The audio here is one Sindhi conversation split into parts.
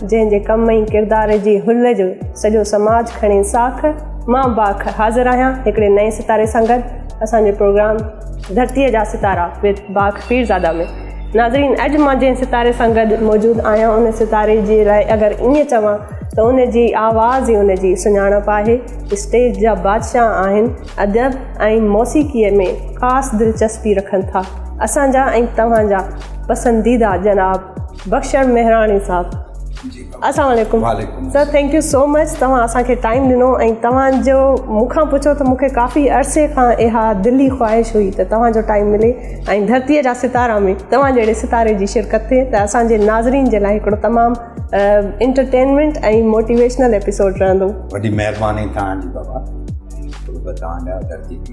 جنهن جي ڪم ۽ ڪردار جي هل جو سڄو سماج کڻي ساک، مان باک حاضر آهيان هڪڙي نئين ستاري سان گڏ اسان جو پروگرام ڌرتيء جا ستارا وٿ باک پيرزاده ۾ ناظرين اڄ مان جنهن ستاري سان گڏ موجود آهيان ان ستاري جي لاء اگر ائين چوان ته ان جي آواز ئي ان جي سڃاڻپ آهي اسٽيج جا بادشاهه آهن ادب ۽ موسيقيء ۾ خاص دلچسپي رکن ٿا اسان جا ۽ توهان جا پسنديده جناب بخشڻ مهراڻي صاحب السلام عليڪم sir thank you so much توهان اسان کي ٽائيم ڏنو ۽ توهان جو مون کان پڇو ته مون کي ڪافي عرصي کان اها دلي خواهش هئي ته توهان جو ٽائيم ملي ۽ ڌرتي جا ستارا ۾ توهان جهڙي ستاري جي شرڪت ٿئي ته اسان جي ناظرين جي لاء هڪڙو تمام انٽرٽينمينٽ ۽ موٽيويشنل ايپيسوڊ رهندو وڏي مهرباني توهان جي بابا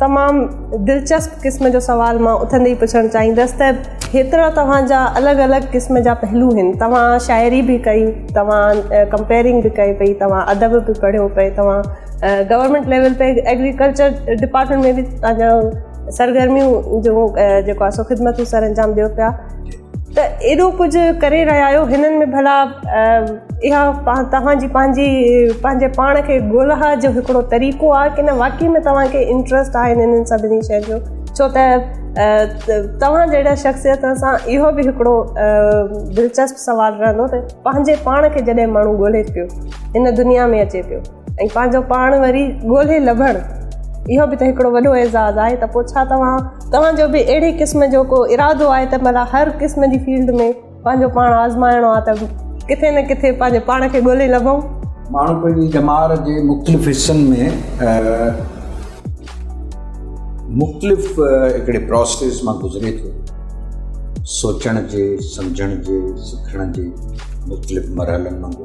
تمام دلچسپ قسم جو سوال مان اٿندي ئي پڇڻ چاهيندس ته هيترا توهان جا الڳ الڳ قسم جا پهلو هن توهان شاعري به ڪئي توهان ڪمپيرنگ به ڪئي پئي توهان ادب به پڙهيو پئي توهان گورنمينٽ ليول تي ايگريڪلچر ڊپارٽمينٽ ۾ به پنهنجو سرگرميون جو جيڪو آهي سو خدمتون سر انجام ڏيو پيا ته ايڏو ڪجهه ڪري رهيا آهيو هنن ۾ ڀلا اها توهان جي پنهنجي پنهنجي پاڻ کي ڳولها جو هڪڙو طريقو آهي ڪنه واقعي ۾ توهان کي انٽرسٽ آهي هنن سڀني شين جو ڇو ته توهان جهڙا شخصيت سان اهو به هڪڙو دلچسپ سوال رهندو ته پنهنجي پاڻ کي جڏهن ماڻهو ڳولهي پيو هن دنيا ۾ اچي پيو ۽ پنهنجو پاڻ وري ڳولهي لڀڻ اهو به ته هڪڙو وڏو اعزاز آهي ته پوء ڇا توهان توهان جو به اهڙي قسم جو ڪو ارادو آهي ته مطلب هر قسم جي فيلڊ ۾ پنهنجو پاڻ آزمائڻو آهي ته ڪٿي نه ڪٿي پنهنجي پاڻ کي ڳولهي لڀون ماڻهو پنهنجي ڄمار جي مختلف حصن ۾ مختلف هڪڙي پروسيس مان گذري ٿو سوچڻ جي سمجھڻ جي سکڻ جي مختلف مرحلن مان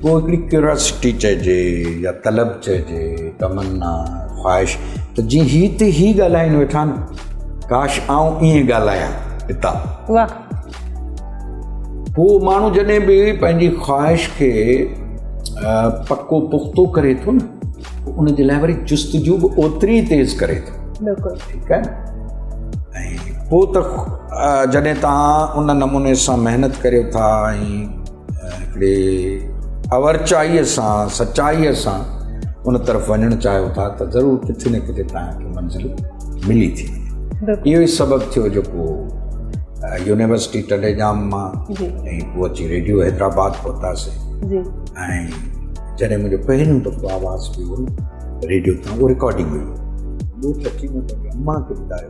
پوء هڪڙي ڪيوراسٽي چئجي يا طلب چئجي، تمنا، خواهش ته جي هي تي هي ڳالهائين ويٺا نه، ڪاش آئون ائين ڳالهايان هتان. واهه. هو ماڻهو جڏهن به پنهنجي خواهش کي پڪو پختو ڪري ٿو نه ته ان جي لاء وري جستجو به اوتري ئي تيز ڪري ٿو. بلڪل. ٺيڪ آهي نه. ۽ پوء ته جڏهن توهان ان نموني سان محنت ڪريو ٿا ۽ هڪڙي اورچائيء سان سچائيء سان ان طرف وڃڻ چاهيو ٿا ته ضرور ڪٿي نه ڪٿي تان کي منزل ملي ٿي اهو ئي سبب ٿيو جيڪو يونيورسٽي ٽنڊي ڄام مان ۽ پوء اچي ريڊيو حيدرآباد پهتاسي ۽ جڏهن منهنجو پهريون دفعو آواز پيو ريڊيو تان اهو رڪارڊنگ هئي ٻوٽ اچي مون پنهنجي اما کي ٻڌايو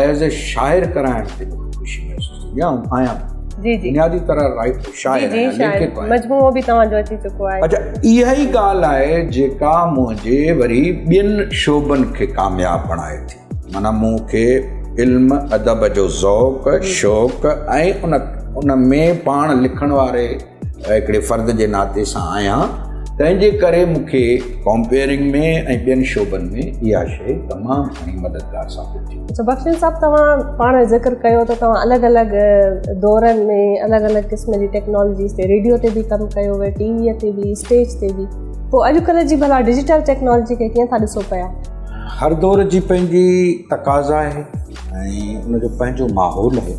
ايز اي شاعر ڪرائڻ تي بي خوشي محسوس ٿيندي آهي ۽ آهيان به جي جي بنيادي طرح رائٽر شاعر جي جي شاعر مجموعو به توهان جو اچي چڪو آهي اچا اها ئي ڳالهه آهي جيڪا منهنجي وري ٻين شعبن کي ڪامياب بڻائي ٿي معنيٰ مون کي علم ادب جو ذوق شوق ۽ ان ان ۾ پاڻ لکڻ واري هڪڙي فرد جي ناتي سان آهيان تنهن جي ڪري مون کي ڪمپيئرنگ ۾ ۽ ٻين شعبن ۾ اها شيء تمام گهڻي مددگار ثابت ٿي. اڇا بخشش صاحب توهان پاڻ ذڪر ڪيو ته توهان الڳ الڳ دورن ۾ الڳ الڳ قسم جي ٽيڪنالاجيز تي ريڊيو تي به ڪم ڪيو وي ٽي وي تي به اسٽيج تي به پوء اڄ ڪلهه جي ڀلا ڊجيٽل ٽيڪنالاجي کي ڪيئن ٿا ڏسو پيا؟ هر دور جي پنهنجي تقاضا آهي ۽ ان جو پنهنجو ماحول آهي.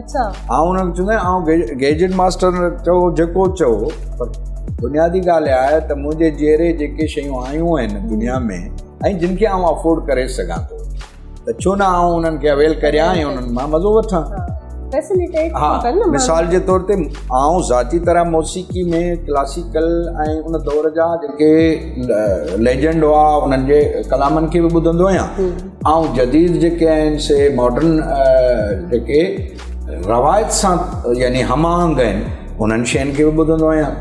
اچھا آئون انهن کي چوندو آهيان آئون گيجٽ ماستر چئو جيڪو چئو پر بنيادي ڳالهه اها آهي ته منهنجي جيئري جيڪي شيون آيون آهن دنيا ۾ ۽ جن کي آئون افورڊ ڪري سگهان ٿو ته ڇو نه آئون انهن کي اويل ڪريان ۽ انهن مان مزو وٺان مثال جي طور تي آئون ذاتي طرح موسيقي ۾ ڪلاسيڪل ۽ ان دور جا جيڪي ليجنڊ هئا انهن جي ڪلامن کي به ٻڌندو آهيان آئون جديد جيڪي آهن سي ماڊرن جيڪي روايت سان يعني هم آهنگ آهن انهن شين کي به ٻڌندو آهيان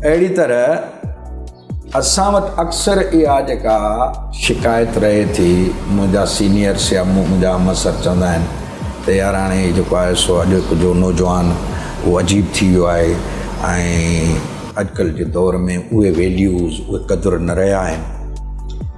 اهڙي طرح اسان وٽ اڪثر اها جيڪا شڪايت رهي ٿي منهنجا سينيئرس يا منهنجا همسر چوندا آهن ته يار هاڻي هي جيڪو آهي سو اڄوڪي جو نوجوان اهو عجيب ٿي ويو آهي ۽ اڄڪلهه جي دور ۾ اهي ويليوز اهي قدر نه رهيا آهن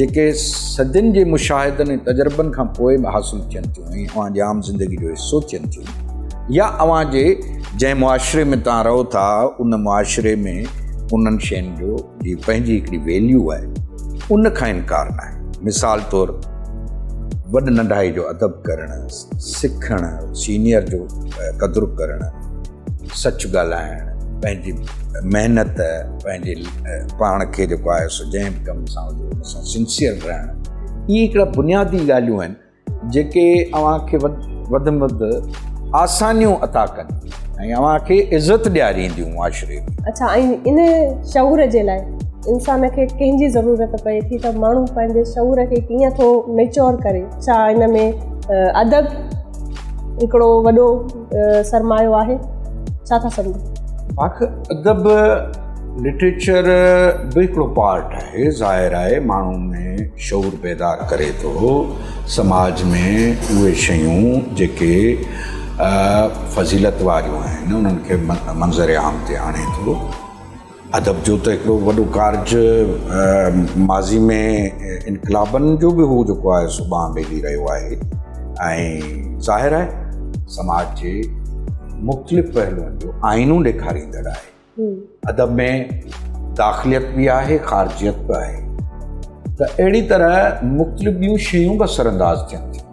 جيڪي صدين جي مشاهدن ۽ تجربن کان پوء به حاصل ٿين ٿيون ۽ اوهان جي عام زندگي جو حصو ٿين ٿيون يا اوهان جي جنهن معاشري ۾ توهان رهو ٿا ان معاشري ۾ انهن شين جو جي پنهنجي هڪڙي ويليو آهي ان کان انڪار ناهي مثال طور وڏ ننڍائي جو ادب ڪرڻ سکڻ، سينيئر جو قدر ڪرڻ، سچ ڳالهائڻ، پنهنجي محنت، پنهنجي پاڻ کي جيڪو آهي سو جنهن به ڪم سان هجي ان سان سنسيئر رهڻ، اهي هڪڙا بنيادي ڳالهيون آهن جيڪي اوهان کي وڌ ۾ وڌ آسانيون عطا ڪن ۽ اوهان کي عزت ڏيارينديون معاشري ۾. اڇا ۽ ان شعور جي لاء انسان کي ڪنهن جي ضرورت پئي ٿي ته ماڻهو پنهنجي شعور کي ڪيئن ٿو ميچور ڪري. ڇا ان ۾ ادب هڪڙو وڏو سرمايو آهي ڇا ٿا سمجهو باک ادب لٽريچر به هڪڙو پارٽ آهي ظاهر آهي ماڻهو ۾ شعور بيدار ڪري ٿو سماج ۾ اهي شيون جيڪي فضيلت واريون آهن انهن کي منظر عام تي آڻي ٿو ادب جو ته هڪڙو وڏو ڪارج ماضي ۾ انقلابن جو به هو جيڪو آهي سو ٻانهن ٻيلي رهيو آهي ۽ ظاهر آهي سماج جي مختلف پهلوئن جو آئينو ڏيکاريندڙ آهي ادب ۾ داخليت به آهي خارجيت به آهي ته اهڙي طرح مختلف ٻيون شيون به اثر انداز ٿين ٿيون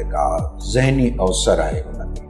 جيڪا ذهني اوسر آهي ان ۾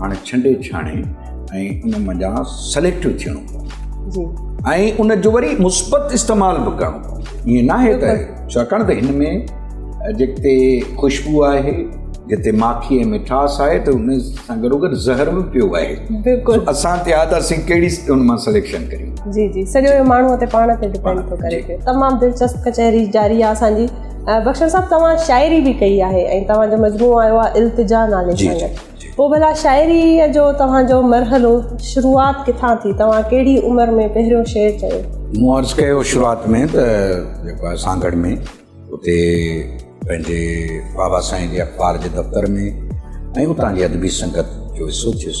هاڻي ڇنڊي ڇاڻي ۽ ان منجهان سليڪٽو ٿيڻو پوندو جي ۽ ان جو وري مثبت استعمال به ڪرڻو پوندو ائين ناهي ته ڇاڪاڻ ته هن ۾ جتي خوشبو آهي جتي ماکي ۽ مٺاس آهي ته ان سان گڏو گڏ زهر به پيو آهي بلڪل اسان تي آهي ته اسين ڪهڙي ان مان سليڪشن ڪريون جي جي سڄو ماڻهو تي پاڻ تي ڊپينڊ ٿو ڪري پيو تمام دلچسپ ڪچهري جاري آهي اسان جي بخشن صاحب توهان شاعري به ڪئي آهي ۽ توهان جو مجموعو آيو آهي التجا نالي سان پوء ڀلا شاعريء جو توهان جو مرحلو شروعات ڪٿان ٿي؟ توهان ڪهڙي عمر ۾ پهريون شعر چيو؟ مون عرض ڪيو شروعات ۾ ته جيڪو آهي سانگهڙ ۾ اتي پنهنجي بابا سائين جي اخبار جي دفتر ۾ ۽ اتان جي ادبي سنگت جو حصو ٿيس.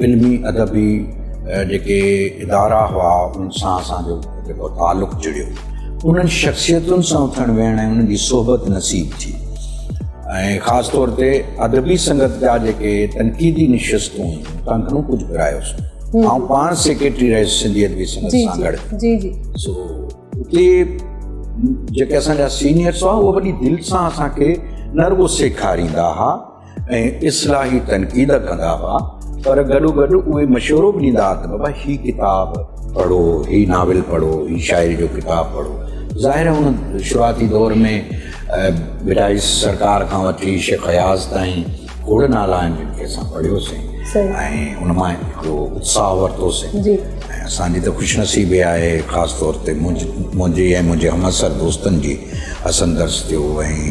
علمي ادبي جيڪي ادارا هئا ان سان اسان جو جيڪو تعلق جڙيو انهن شخصيتن سان اٿڻ ويهڻ ۽ انهن جي صحبت نصيب ٿي ۽ خاص طور تي ادبي سنگت جا جيڪي تنقيدي نشستون هيون تن گهڻو ڪجهه گهرايوس آئون پاڻ سيڪريٽري رهيس سنڌي ادبي سنگت جي، سان گڏ جي جي سو اتي جيڪي اسان جا سينيئرس هئا اهو وڏي دل سان اسان کي نه رڳو سيکاريندا هئا ۽ اصلاحي تنقيد ڪندا هئا پر گڏوگڏ اهي مشورو به ڏيندا ته بابا هي ڪتاب پڙهو هي ناول پڙهو هي شاعري جو ڪتاب پڙهو ظاهر هن شروعاتي دور ۾ بٽائي سرڪار کان وٺي شيخ اياز تائين کوڙ نالا آهن جن کي اسان پڙهيوسين ان مان هڪڙو اتساهه ورتوسين ۽ اسانجي ته خوش نصيبي آهي خاص طور تي منهنجي ۽ منهنجي همعصر دوستن جي حسن درس ٿيو ۽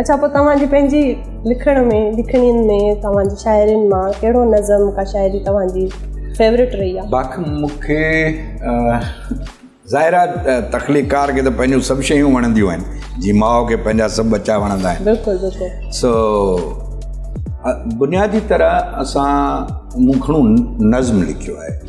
اڇا پوء توهان جي پنهنجي لکڻ ۾ لکڻين ۾ توهان جي شاعرين مان ڪهڙو نظم ڪا شاعري توهان جي فيورٽ رهي آهي باقي مون کي ظاهر آهي تخليقڪار کي ته پنهنجون سڀ شيون وڻنديون آهن جي ماء کي پنهنجا سڀ ٻچا وڻندا آهن بلڪل بلڪل سو بنيادي طرح اسان مون گهڻو نظم لکيو آهي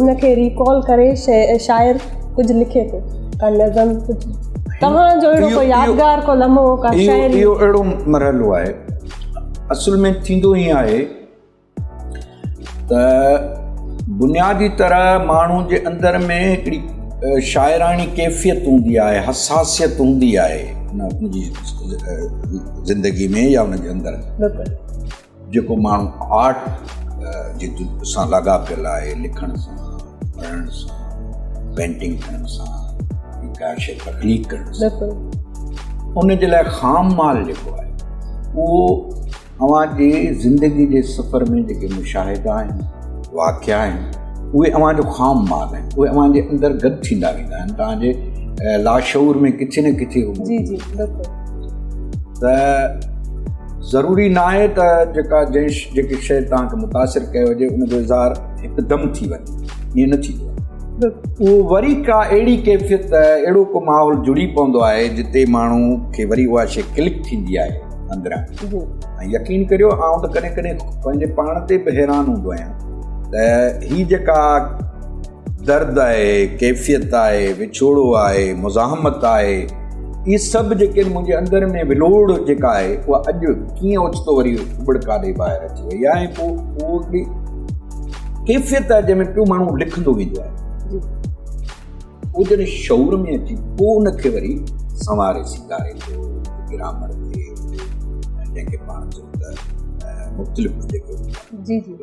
ان کي ريڪال ڪري شاعر ڪجهه لکي ٿو ڪا نظم ڪجهه توهان جو اهڙو ڪو يادگار ڪو لمحو ڪا شاعر اهو اهڙو مرحلو آهي اصل ۾ ٿيندو ائين آهي ته بنيادي طرح ماڻهو جي اندر ۾ هڪڙي شاعراڻي ڪيفيت هوندي آهي حساسيت هوندي آهي زندگي ۾ يا هن جي اندر جيڪو ماڻهو آرٽ جي سان لاڳاپيل آهي، لکڻ سان، پڙهڻ سان، پينٽنگ ٺاهڻ سان، ڪا شيء تخليق ڪرڻ سان، ان جي لاء خام مال جيڪو آهي، اهو اوهان جي زندگي جي سفر ۾ جيڪي مشاهدا آهن، واقعا آهن، اهي اوهان جو خام مال آهن. اهي اوهان جي اندر گڏ ٿيندا ويندا آهن، توهان جي لاشعور ۾ ڪٿي نه ڪٿي هو موجود هوندا آهن. ته ضروري ناهي ته جيڪا جيڪي شيء توهان کي متاثر ڪيو هجي ان جو اظهار هڪدم ٿي وڃي ائين نه ٿيندو اهو وري ڪا اهڙي ڪيفيت اهڙو ڪو ماحول جڙي پوندو آهي جتي ماڻهو کي وري اها شي ڪلڪ ٿيندي آهي اندران ۽ يقين ڪريو آئون ته ڪڏهن ڪڏهن پنهنجي پاڻ تي به حيران هوندو آهيان ته هي جيڪا درد آهي، ڪيفيت آهي، وڇوڙو آهي، مزاحمت آهي، اهي سڀ جيڪي آهن منهنجي اندر ۾ ولوڙ جيڪا آهي اها اڄ ڪيئن اوچتو وري اٻڙڪا ڏئي ٻاهر اچي وئي آهي ۽ پوء اهو هڪڙي ڪيفيت آهي جنهن ۾ پيو ماڻهو لکندو ويندو آهي پوء جڏهن شعور ۾ اچي پوء ان کي وري سنواري سينگاري ٿو گرامر کي جنهن کي پاڻ چئون ته مختلف جيڪو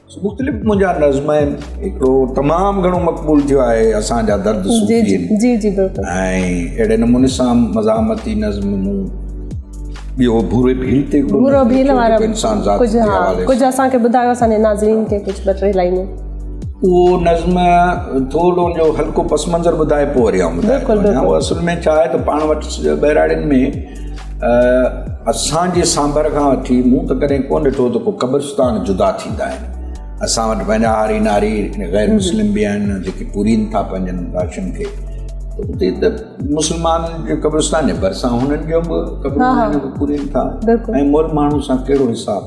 مختلف منهنجا نظم آهن هڪڙو تمام گهڻو مقبول ٿيو آهي اسان جا درد صوفي جي جي جي بلڪل ۽ اهڙي نموني سان مزاحمتي نظم مون ٻيو ڀوري ڀيل تي ڀورو ڀيل وارا انسان ذات جي حوالي ڪجهه اسان کي ٻڌايو اسان جي ناظرين کي ڪجهه ٻه ٽي لائنون اهو نظم ٿورو ان جو هلڪو پس منظر ٻڌائي پوء وري آئون ٻڌايان بلڪل بلڪل اصل ۾ ڇا آهي ته پاڻ وٽ ٻهراڙين ۾ اسان جي سانڀر کان وٺي مون ته ڪڏهن ڪو ڏٺو ته ڪو قبرستان جدا ٿيندا آهن اسان وٽ پنهنجا هاري ناري غير مسلم به آهن جيڪي پورين ٿا پنهنجن راشن کي اتي ته مسلمان جي قبرستان جي ڀرسان هنن جو به قبرستان پورين ٿا ۽ مول ماڻهو سان ڪهڙو حساب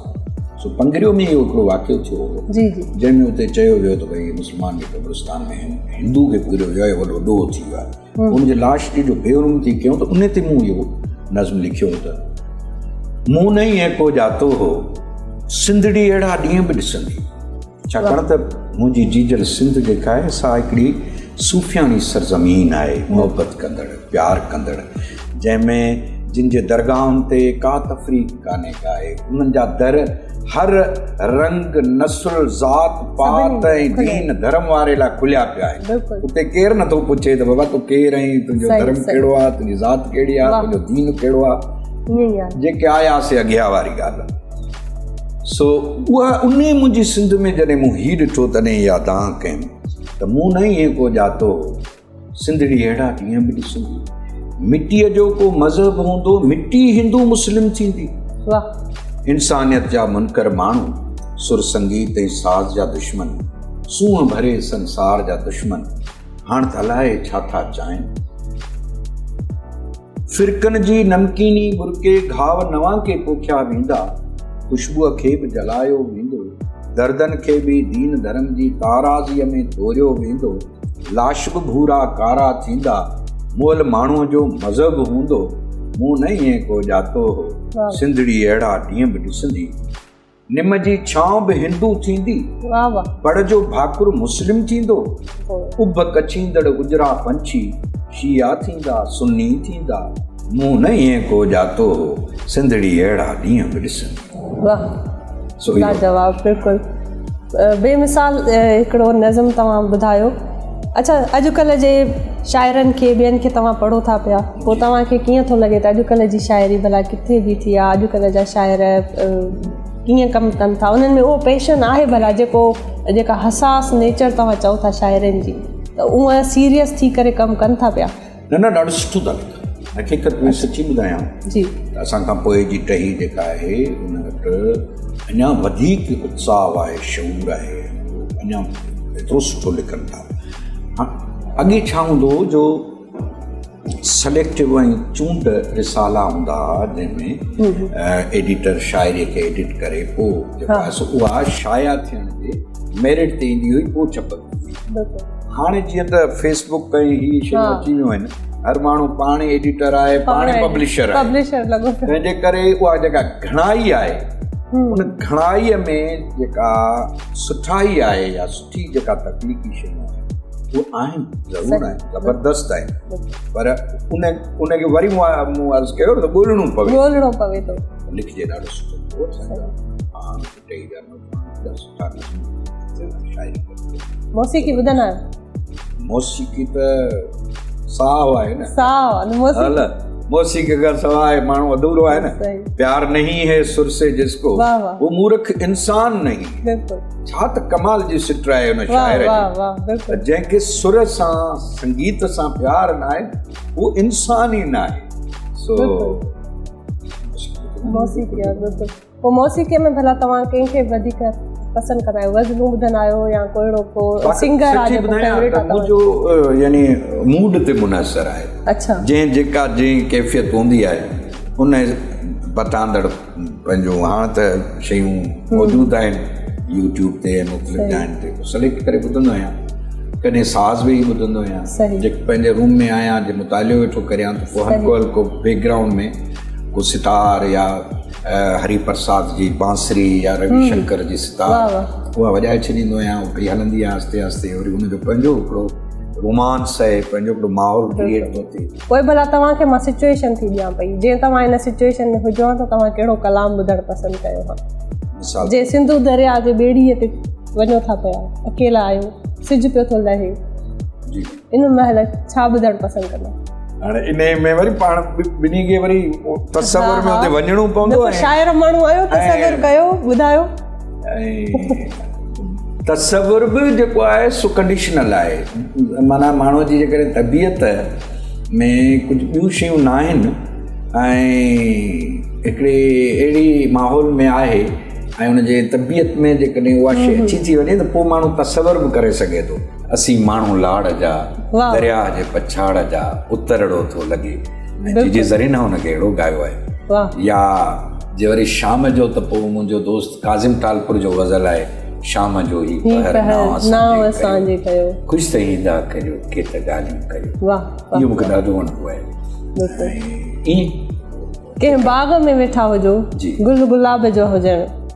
سو پنگريو ۾ اهو هڪڙو واقعو ٿيو هو جنهن ۾ اتي چيو ويو ته ڀائی مسلمان جي قبرستان ۾ هندو کي پوريو ويو آهي وڏو ڏوهه ٿي ويو آهي ان جي لاش جي جو بيرون ٿي ڪيون ته ان تي مون اهو نظم لکيو هو ته مون نه ئي ايڪو ڄاتو هو سنڌڙي اهڙا ڏينهن به ڏسندي ڇاڪاڻ ته منهنجي جيجل سنڌ جيڪا آهي سا هڪڙي صوفياڻي سرزمين آهي محبت ڪندڙ پيار ڪندڙ جنهن ۾ جن جي درگاهن تي ڪا تفريق ڪانهي ڪا اهي انهن جا در هر رنگ نسل ذات پات ۽ دين ڌرم واري لاء کليا پيا آهن اتي ڪير نٿو پڇي ته بابا تو ڪير آهين تنهنجو ڌرم ڪهڙو آهي تنهنجي ذات ڪهڙي آهي تنهنجو دين ڪهڙو آهي جيڪي آيا سي اگيا واري ڳالهه سو اها ان منهنجي سنڌ ۾ جڏهن مون هي ڏٺو تڏهن يادان ڪيم ته مون نه ائين ڪو ڄاتو سنڌڙي اهڙا ڏينهن به ڏسندي مٽيء جو ڪو مذهب هوندو مٽي هندو مسلم ٿيندي انسانيت جا منڪر ماڻهو سر سنگيت ۽ ساز جا دشمن سونهن ڀري سنسار جا دشمن هاڻ ته الائي ڇا ٿا چاهين فرقن جي نمڪيني برڪي گهاء نوان کي پوکيا ويندا خوشبوء کي به جلايو ويندو دردن کي به دين ڌرم جي تارازيء ۾ توريو ويندو لاش به ڀورا ڪارا ٿيندا، مئل ماڻهوء جو مذهب هوندو، مون نه ائين ڪو ڄاتو هو، سنڌڙي اهڙا ڏينهن به ڏسندي، نم جي ڇانو به هندو ٿيندي، پڙ جو ڀاڪر مسلم ٿيندو، اڀ ڪڇيندڙ اجرا پنڇي شيعا ٿيندا، سني ٿيندا، مون نه ائين ڪو ڄاتو هو، سنڌڙي اهڙا ڏينهن به ڏسندي. واھ سھڻو جواب بلڪل بي مثال ھڪڙو نظم توھان ٻڌايو اچھا اڄ ڪلھ جي شاعرن کي ٻين کي توھان پڙھو ٿا پيا پوء توھان کي ڪيئن ٿو لڳي ته اڄ ڪلھ جي شاعري بلا ڪٿي بيٺي آ اڄ ڪلھ جا شاعر ڪيئن ڪم ڪن ٿا انھن ۾ اھو پيشن آھي بلا جيڪو جيڪا حساس نيچر توھان چئو ٿا شاعرن جي ته اھا سيريس ٿي ڪري ڪم ڪن ٿا پيا نه نه ڏاڍو سٺو ٿا لکو حقيقت ۾ سچي ٻڌايان جي اسان کان پوء جي ٽهي جيڪا آهي ان وٽ اڃا وڌيڪ اتساهه آهي شعور آهي اڃا ايترو سٺو لکن ٿا اڳي ڇا هوندو هو جو سليڪٽو ۽ چونڊ رسالا هوندا هئا جنهن ۾ ايڊيٽر شاعري کي ايڊيٽ ڪري پوء اها شايع ٿيڻ تي ميرٽ تي ايندي هئي پوء ڇپندي هئي هاڻي جيئن ته فيس بڪ ۽ هي شيون اچي ويون آهن هر ماڻهو پاڻ ايڊيٽر آهي پاڻ پبلشر آهي تنهنجي ڪري اها جيڪا گهڻائي آهي ان گهڻائي ۾ جيڪا سٺائي آهي يا سٺي جيڪا تخليقي شيون آهن اهي آهن ضرور آهن زبردست آهن پر ان ان کي وري مون عرض ڪيو ته ڳولڻو پوي ڳولڻو پوي ٿو لکجي ڏاڍو سٺو موسيقي ٻڌندا آهيو موسيقي ته ساهه آهي نه ساهه موسيقي موسيقي کان سواء ماڻهو اڌورو آهي نه پيار نهي هي سر سي جس ڪو هو مورک انسان نهي ڇا ته ڪمال جي سٽ آهي ان شاعر جي جنهن کي سر سان سنگيت سان پيار نه آهي هو انسان ئي نه آهي سو موسيقي پوء موسيقي ۾ ڀلا توهان ڪنهن کي وڌيڪ پسند ڪندا آهيو غزلون ٻڌندا آهيو يا ڪو اهڙو ڪو سنگر آهي جيڪو فيوريٽ آهي منهنجو يعني موڊ تي منحصر آهي اڇا جنهن جيڪا جنهن ڪيفيت هوندي آهي ان پتاندڙ پنهنجو هاڻ ته شيون موجود آهن يوٽيوب تي مختلف جاين تي سليڪٽ ڪري ٻڌندو آهيان ڪڏهن ساز ويهي ٻڌندو آهيان جيڪو پنهنجي روم ۾ آهيان جي مطالعو ويٺو ڪريان ته پوء هلڪو هلڪو بيڪگراؤنڊ ۾ ڪو ستار يا هري پرساد جي بانسري يا روي شنڪر جي ستار اها وڄائي ڇڏيندو آهيان پئي هلندي آهي آهستي آهستي وري ان جو پنهنجو هڪڙو رومانس آهي پنهنجو هڪڙو ماحول ڪريئيٽ ٿو ٿئي پوء ڀلا توهان کي مان سچويشن ٿي ڏيان پئي جي توهان ان سچويشن ۾ هجو ته توهان ڪهڙو ڪلام ٻڌڻ پسند ڪيو ها مثال جي سنڌو درياء جي ٻيڙي تي وڃو ٿا پيا اڪيلا آهيو سج پيو ٿو لهي جي ان مهل ڇا ٻڌڻ پسند ڪندا؟ هاڻي انهي ۾ وري پاڻ ٻنهي کي وري تصور ۾ اتي وڃڻو پوندو ۽ شاعر ماڻهو آهيو تصور ڪيو ٻڌايو ۽ تصور به جيڪو آهي سو ڪنڊيشنل آهي معنيٰ ماڻهو جي جيڪڏهن طبيعت ۾ ڪجهه ٻيون شيون نه آهن ۽ هڪڙي اهڙي ماحول ۾ آهي ۽ ان جي طبيعت ۾ جيڪڏهن اها شيء اچي ٿي وڃي ته پوء ماڻهو تصور به ڪري سگهي ٿو اسين ماڻهو لاڙ جا واهه. درياء جي پڇاڙ جا اترڙو ٿو لڳي ۽ بلڪل. جيجي زرينه ان کي اهڙو ڳايو آهي واهه. يا جي وري شام جو ته پوء منهنجو دوست ڪاظم ٽالپر جو غزل آهي شام جو هي هي پهر پهر نانء نانء اسان جي اسان جي ڪيو ڪيو. خوش ته ايندا ڪريو ڪي ته ڳالهيون ڪريو واهه واهه اهو مون کي واهه ڏاڍو وڻندو آهي بلڪل ۽ ائين ڪنهن باغ ۾ ويٺا هجو جي. گل گلاب جو هجڻ.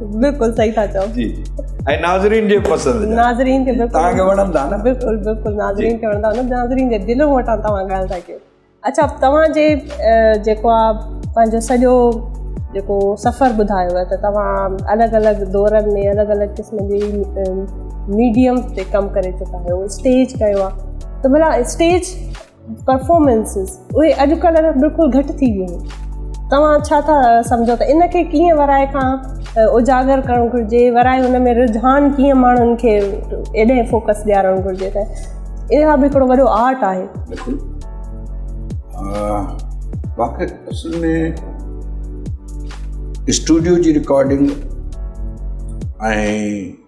بلڪل صحيح ٿا چئو جي ۽ ناظرين جي پسند ناظرين کي بلڪل تاڪي وڻن ٿا نه بلڪل بلڪل ناظرين کي وڻن ٿا نه ناظرين جي دل هو ٿا توهان ڳالهه ٿا ڪيو اچھا توهان جي جيڪو آ پنهنجو سڄو جيڪو سفر ٻڌايو ته توهان الڳ الڳ دورن ۾ الڳ الڳ قسم جي ميڊيم تي ڪم ڪري چڪا آهيو اسٽيج ڪيو آ ته بلا اسٽيج پرفارمنسز اهي اڄڪلهه بلڪل گهٽ ٿي ويون آهن توهان ڇا ٿا سمجهو ته ان کي ڪيئن ورائي کان اجاگر ڪرڻ گهرجي ورائي ان ۾ رجحان ڪيئن ماڻهن کي ايڏي فوڪس ڏيارڻ گهرجي ته اها به هڪڙو وڏو آرٽ آهي واقعي اصل ۾ اسٽوڊيو جي رڪارڊنگ ۽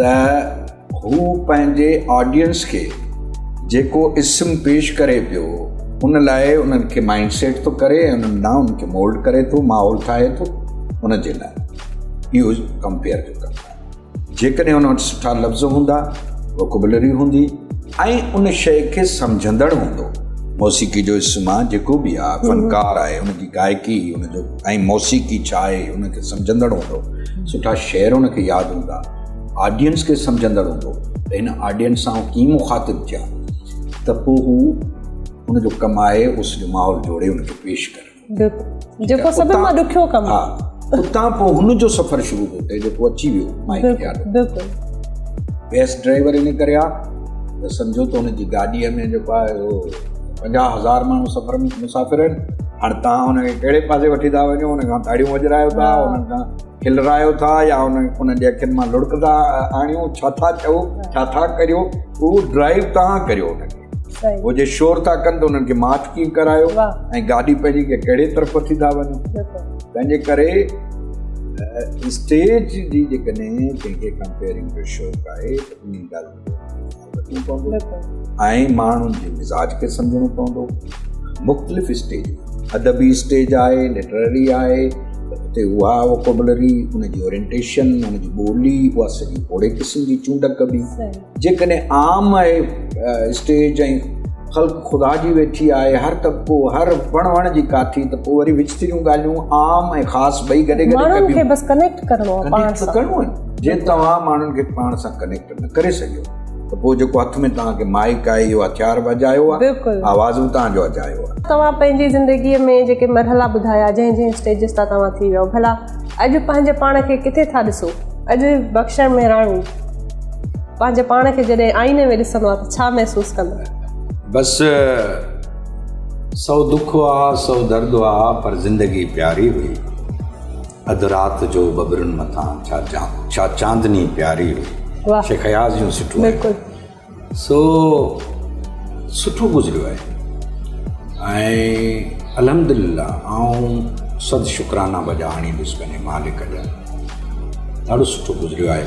ته هو پنهنجي آڊينس کي جيڪو اسم پيش ڪري پيو ان لاء انهن کي مائنڊ سيٽ ٿو ڪري ۽ انهن ناون کي مولڊ ڪري ٿو ماحول ٺاهي ٿو ان جي لاء اهو ڪمپيئر جو ڪم آهي جيڪڏهن ان وٽ سٺا لفظ هوندا ووڪبلري هوندي ۽ ان شيء کي سمجهندڙ هوندو موسيقي جو اسم آهي جيڪو بي آهي فنڪار آهي ان جي گائڪي ان جو ۽ موسيقي ڇا آهي ان کي سمجهندڙ هوندو سٺا شعر ان کي ياد هوندا آڊينس کي سمجهندڙ هوندو ته هن آڊينس سان ڪيئن مخاطب ٿيا ته پوء هو ان جو ڪم آهي اس جو ماحول جوڙي ان کي پيش ڪري جيڪو سڀ مان ڏکيو ڪم ها اتان پوء هن جو سفر شروع ٿو ٿئي جيڪو اچي ويو مائڪ بيس ڊرائيور ان ڪري آ ته سمجهو ته ان جي گاڏيء ۾ جيڪو آهي اهو پنجاهه هزار ماڻهو سفر ۾ مسافر آهن هاڻي تان هن کي ڪهڙي پاسي وٺي ٿا وڃو هن کان تاڙيون وڄرايو ٿا هن کان کلرايو ٿا يا هن هن جي اکين مان لڙڪ ٿا آڻيو ڇا ٿا چئو ڇا ٿا ڪريو اهو ڊرائيو تان ڪريو هن کي هو جي شور ٿا ڪن ته هنن کي معاف ڪيئن ڪرايو ۽ گاڏي پنهنجي کي ڪهڙي طرف وٺي ٿا وڃو تنهنجي ڪري اسٽيج جي جيڪڏهن ڪنهن کي ڪمپيئرنگ جو شوق آهي ۽ ماڻهن جي مزاج کي سمجهڻو پوندو مختلف اسٽيج ادبي اسٽيج آهي لٽرري آهي اتي اها ووڪبلري ان جي اورينٽيشن ان جي ٻولي اها سڄي پوڙي قسم جي چونڊ ڪبي جيڪڏهن عام آهي اسٽيج ۽ خلق خدا جي ويٺي آهي هر طبقو هر وڻ وڻ جي ڪاٿي ته پوء وري وچ تريون ڳالهيون عام ۽ خاص ٻئي گڏي گڏي ڪبيون بس ڪنيڪٽ ڪرڻو آهي پاڻ سان جي توهان ماڻهن کي پاڻ سان ڪنيڪٽ نه ڪري سگهيو ته پوء جيڪو هٿ ۾ توهان کي مائيڪ آهي اهو هٿيار به اجايو آهي بلڪل آواز به توهان جو اجايو آهي توهان پنهنجي زندگي ۾ جيڪي مرحلا ٻڌايا جنهن جنهن اسٽيجز تان توهان ٿي ويو ڀلا اڄ پنهنجي پاڻ کي ڪٿي ٿا ڏسو اڄ بخشڻ مهراڻي پنهنجي پاڻ کي جڏهن آئيني ۾ ڏسندو آهي ته ڇا محسوس ڪندو بس سو دک هئا سو درد هئا پر زندگي پياري هئي اڌ رات جو ٻٻرن مٿان ڇا چاندني پياري هئي. واھ شيخ اياز جون سٺو آهي بلڪل سو سٺو گذريو آهي ۽ الحمدلله آئون صد شڪرانا بجا آڻيندس پنهنجي مالڪ جا ڏاڍو سٺو گذريو آهي.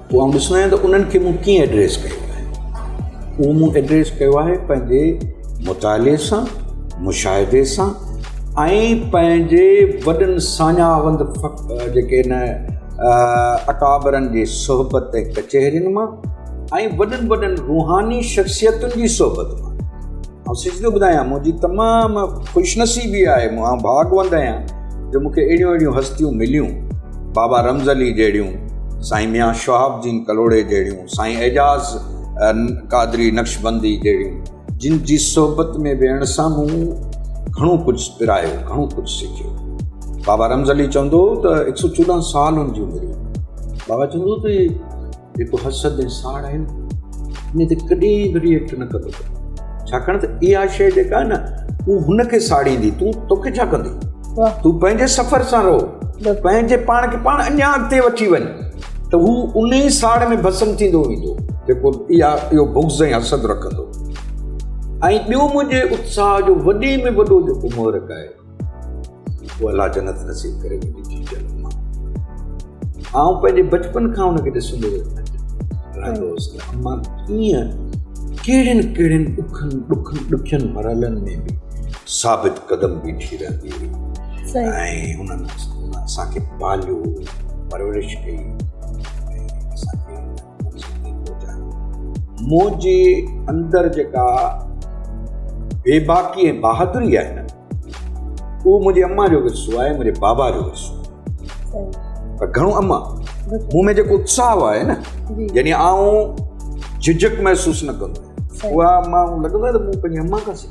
پوء آئون ڏسندو آهيان ته انهن کي مون ڪيئن ايڊريس ڪيو آهي اهو مون ايڊريس ڪيو آهي پنهنجي مطالعي سان مشاهدي سان ۽ پنهنجي وڏن ساڃاهوند جيڪي هن اڪابرن جي صحبت ڪچهرين مان ۽ وڏن وڏن روحاني شخصيتن جي صحبت مان آئون سچ ٿو ٻڌايان منهنجي تمام خوش نصيبي آهي آئون ڀاڳوند آهيان جو مونکي اهڙيون اهڙيون هستيون مليون بابا رمز علي جهڙيون سائين ميان شهاب الدين ڪلهوڙي جهڙيون سائين اعجاز قادري نقشبندي جهڙيون جن جي صحبت ۾ ويهڻ سان مون گهڻو ڪجهه پرايو گهڻو ڪجهه سکيو بابا رمز علي چوندو هو ته هڪ سؤ چوڏهن سال هن جي عمر هئي بابا چوندو هو ته جيڪو حسد ۽ ساڙ آهي نه ان تي ڪڏهن به ريئيڪٽ نه ڪندو ڇاڪاڻ ته اها شيء جيڪا آهي نه هو هن کي ساڙيندي تون توکي ڇا ڪندي تون پنهنجي سفر سان رهو پنهنجي پاڻ کي پاڻ اڃا اڳتي وٺي وڃ ته هو ان ئي ساڙ ۾ بسم ٿيندو ويندو جيڪو اها اهو بغض ۽ حسد رکندو ۽ ٻيو منهنجي اتساهه جو وڏي ۾ وڏو جيڪو مورک آهي جيڪو الله جنت نصيب ڪري منهنجي ڌيء جي حق مان آئون پنهنجي بچپن کان ان کي ڏسندو رهندو هوس ته اما ڪيئن ڪهڙين ڪهڙين ڏکن ڏکن ڏکين مرحلن ۾ به ثابت قدم بيٺي رهندي هئي ۽ هنن اسان کي پاليو پرورش ڪئي مون جي اندر جيڪا بيباڪي ۽ بهادري آهي نه اهو منهنجي اما جو ورثو آهي منهنجي بابا جو ورثو پر گهڻو اما مون ۾ جيڪو اتساهه آهي نه يعني آئون جھجھڪ محسوس نه ڪندو اها اما لڳندو آهي ته مون پنهنجي اما کان سکيو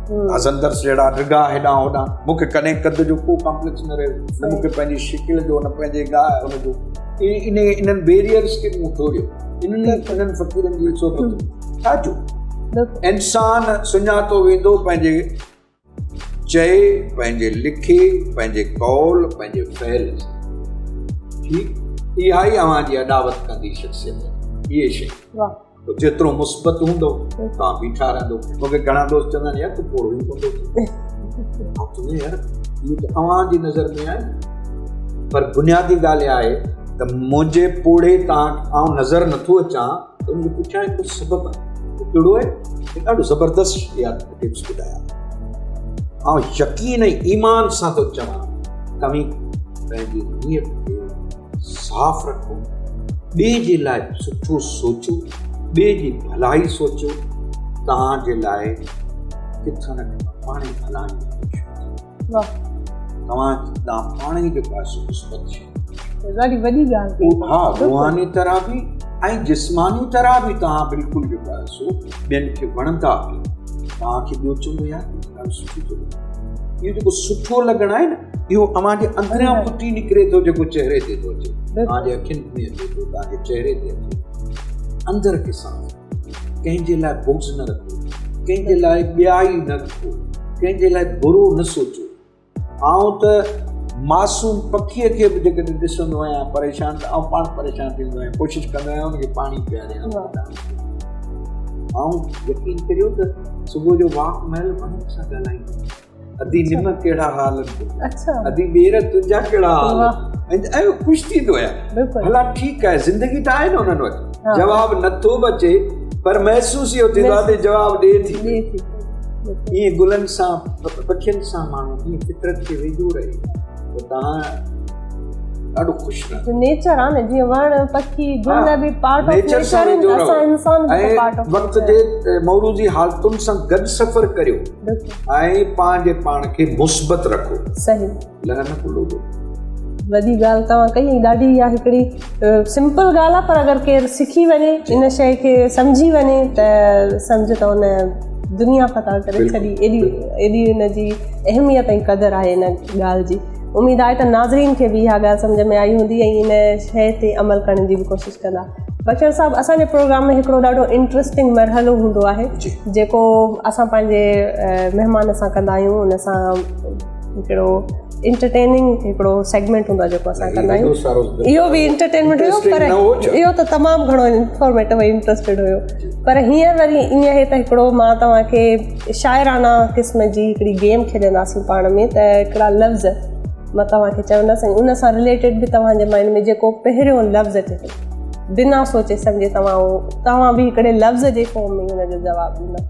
هسندرس جهڙا ڊگها هيڏانهن هوڏانهن مون کي ڪڏهن قد جو ڪو ڪامپليڪس نه رهيو نه مون کي پنهنجي شڪل جو نه پنهنجي گاء ان جو ان انهن بيريئرس کي مون ٽوڙيو انهن لاء انهن فقيرن جي صحبت ڇا جو انسان سڃاتو ويندو پنهنجي چئي پنهنجي لکي پنهنجي قول پنهنجي فعل ٺيڪ اها ئي اوهان جي اڏاوت ڪندي شخصيت اهي شيء تو جيترو مثبت هوندو تان بيٺا رهندو مونکي گهڻا دوست چوندا آهن يار تو پوڙهو ئي ڪونه ٿو ٿي نه يار اهو ته اوهان جي نظر ۾ آهي پر بنيادي ڳالهه اها آهي ته منهنجي پوڙهي تان آئون نظر نٿو اچان ته ان جو پٺيان هڪڙو سبب آهي اهو ڪهڙو آهي هڪ ڏاڍو زبردست شيار ٽپس ٻڌايا آئون يقين ۽ ايمان سان ٿو چوان توهين پنهنجي نيت کي صاف رکو، ٻئي جي لاء سٺو سوچو، ٻئي جي ڀلائي سوچو، توهان جي لاء ڪٿان نه ڪٿان پاڻ ئي ڀلائي توهان ڏانهن پاڻ ئي جيڪو آهي سو مثبت شي ڏاڍي وڏي ڳالهه ها روحاني طرح به ۽ جسماني طرح به توهان بلڪل جيڪو آهي سو ٻين کي وڻندا به توهان کي ٻيو چونگو ياد اهو جيڪو سٺو لڳڻ آهي نه اهو اوهان جي اندريان ڦٽي نڪري ٿو جيڪو چهري تي ٿو اچي اوهان جي اکين ۾ اچي ٿو اوهان جي چهري تي اچي اندر کي صاف ڪنهن جي لاء بغض نه رکو ڪنهن جي لاء ٻيائي نه رکو ڪنهن جي لاء برو نه سوچو آئون ته معصوم پکيء کي به جيڪڏهن ڏسندو آهيان پريشان ته آئون پاڻ پريشان ٿيندو آهيان ڪوشش ڪندو آهيان ان کي پاڻي پياريان آئون يقين ڪريو ته صبح جو واڪ مهل منک سان ڳالهائيندو آهيان ادي نم ڪهڙا حال اچا ادي ٻير تنهنجا ڪهڙا حال ۽ خوش ٿيندو آهيان بلا ٺيڪ آهي زندگي ته آهي نه انهن وٽ جواب نٿو به اچي پر محسوس اهو ٿيندو آهي ته جواب ڏي ٿي ايئن گلن سان پکين سان ماڻهو جيئن فطرت کي ويجهو رهي ته تهان ڏاڍو خوش رهندو نيچر آ نه جيئن وڻ پکي گل به پارٽ آف نيچر آهن ته اسان انسان به پارٽ آف وقت جي موروثي حالتن سان گڏ سفر ڪريو ۽ پنهنجي پاڻ کي مثبت رکو صحيح لهر نه کلو جو وڏي ڳالهه توهان ڪئي ۽ ڏاڍي اها هڪڙي سمپل ڳالهه آهي پر اگر ڪير سکي وڃي ان شي کي سمجهي وڃي ته سمجهه ته ان دنيا فتح ڪري ڇڏي ايڏي ايڏي ان جي اهميت ۽ قدر آهي ان ڳالهه جي اميد آهي ته ناظرين کي به اها ڳالهه سمجهه ۾ آئي هوندي ۽ ان شي تي عمل ڪرڻ جي به ڪوشش ڪندا بچن صاحب اسانجي پروگرام ۾ هڪڙو ڏاڍو انٽرسٽنگ مرحلو هوندو آهي جيڪو اسان پنهنجي مهمان سان ڪندا آهيون ان سان هڪڙو انٽرٽيننگ هڪڙو سيگمينٽ هوندو آهي جيڪو اسان ڪندا آهيون اهو به انٽرٽينمينٽ هيو پر اهو ته تمام گهڻو انفارميٽو ۽ انٽرسٽيڊ هيو پر هينئر وري ائين آهي ته هڪڙو مان توهان کي شاعرانه قسم جي هڪڙي گيم کيڏنداسين پاڻ ۾ ته هڪڙا لفظ مان توهان کي چوندسي ان سان رليٽيڊ به توهان جي مائنڊ ۾ جيڪو پهريون لفظ اچي ٿو بنا سوچي سمجهي توهان توهان به هڪڙي لفظ جي فارم ۾ هن جو جواب ڏيندا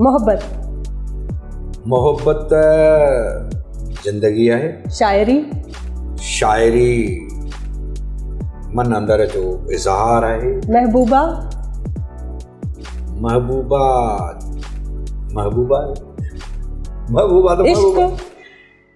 محبت محبت ته زندگي آهي شاعري شاعري من اندر جو اظهار آهي محبوبا محبوبا محبوبا محبوبا ته محبوبا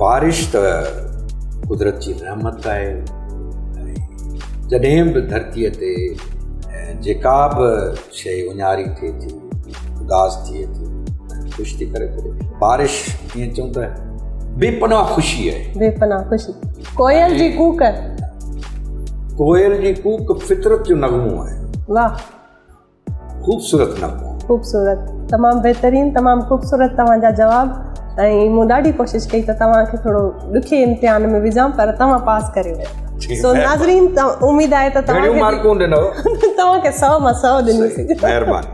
بارش ته قدرت جي رحمت آهي جڏهن به ڌرتيء تي جيڪا به شيء اونهاري ٿئي ٿي اداس ٿئي ٿي خوش ٿي ڪري ٿو بارش ائين چون ته بي پناهه خوشي آهي بي پناهه خوشي ڪوئل جي ڪوڪ ڪوئل جي ڪوڪ فطرت جو نغمو آهي واهه خوبصورت نغمو. خوبصورت تمام بهترين تمام خوبصورت توهان جا جواب ۽ مون ڏاڍي ڪوشش ڪئي ته توهان کي ٿورو ڏکي امتحان ۾ وجهان پر توهان پاس ڪري ويا سو ناظرين اميد آهي ته توهان کي مارڪون ڏنو توهان کي 100 مان 100 ڏني سي مهربان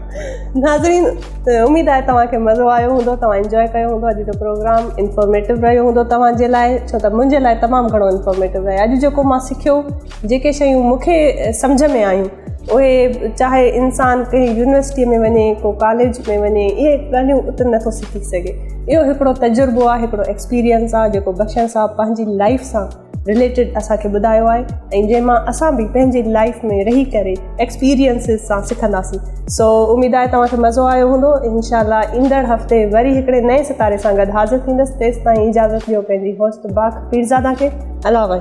ناظرين اميد آهي توهان کي مزو آيو هوندو توهان انجوائي ڪيو هوندو اڄ جو پروگرام انفارميٽو رهيو هوندو توهان جي لاء ڇو ته منهنجي لاء تمام گهڻو انفارميٽو رهي اڄ جيڪو مان سکيو جيڪي شيون مون کي سمجهه ۾ آيون اهي چاهي انسان ڪنهن يونيورسٽي ۾ وڃي ڪو ڪاليج ۾ وڃي اهي ڳالهيون اتر نٿو سکي سگهي اهو هڪڙو تجربو آهي هڪڙو ايڪسپيريئنس آهي جيڪو بخشن صاحب پنهنجي لائف سان رليٽيڊ اسان کي ٻڌايو آهي ۽ جنهن مان اسان به پنهنجي لائف ۾ رهي ڪري ايڪسپيريئنس سان سکنداسين سو اميد آهي توهان کي مزو آيو هوندو انشاء الله ايندڙ هفتي وري هڪڙي نئين ستاري سان گڏ حاضر ٿيندس تيستائين اجازت ڏيو پنهنجي هوسٽ باک پيرزادا کي الله